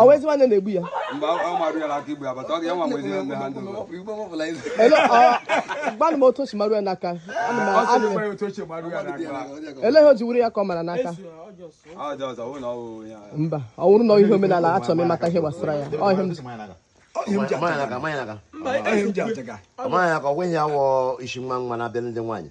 ọ wụzi nwanne na-egbu ya gwanụ m otu o si mara ya n'aka ele ihe o ji wụrụ ya ka ọ mara n'aka mba ọ wụrụ na ihe omenala achọrọ m ịmata ihe gbasara ya ọ ihe m ji Ọmanya ka ọgwụ ihe a wụ isi nwa nwa na-abịa ndị nwaanyị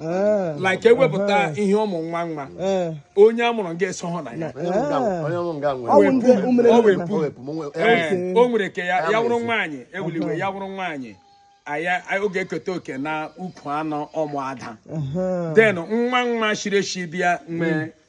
Eh. like ewepụta ihe ụmụ nwa nwa Eh. onye a mụrụ nga esohụ na ya Onye m ga- onye m ga Ọ bụ nwere. ndị umere Ọ na- wepụ. O wepụ m, o wepụ. Ee, o nwere ike ya wụrụ nwaanyị ewuliwe ya wụrụ nwaanyị aya ọ ga-eketa oke na ukwu anụ ụmụ ada Aha. then nwa nwa shiri eshi bịa mgbe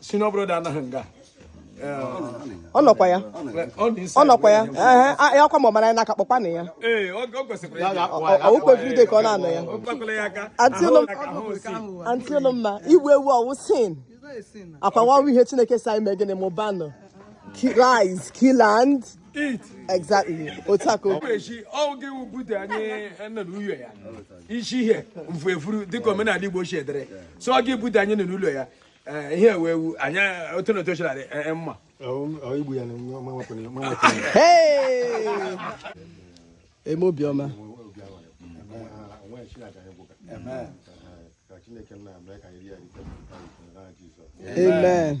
senior brother anọghị nga ọ nọkwa ya ọ nọkwa ya ee ya kwa ma ọ mara ya n'aka kpọkwa na ya o kwesịrị ịdị ka ọ na-anọ ya antị Ụlọmma igbu ewu ọ wụ sin akwa nwa ọrụ ihe Chineke sị anyị mee gịnị mụbanụ rise kill and eat exactly otu a ka o echi ọ wụ gị wụ bute anyị nọ n'ụlọ ya isi ihe mfu efuru dịka omenala Igbo si dịrị so ọ gị bute anyị nọ n'ụlọ ya Eh, ihe ewu ewu anyị otu na otu o shiri adị eh, eh, mma igbu ya eme obiọma amen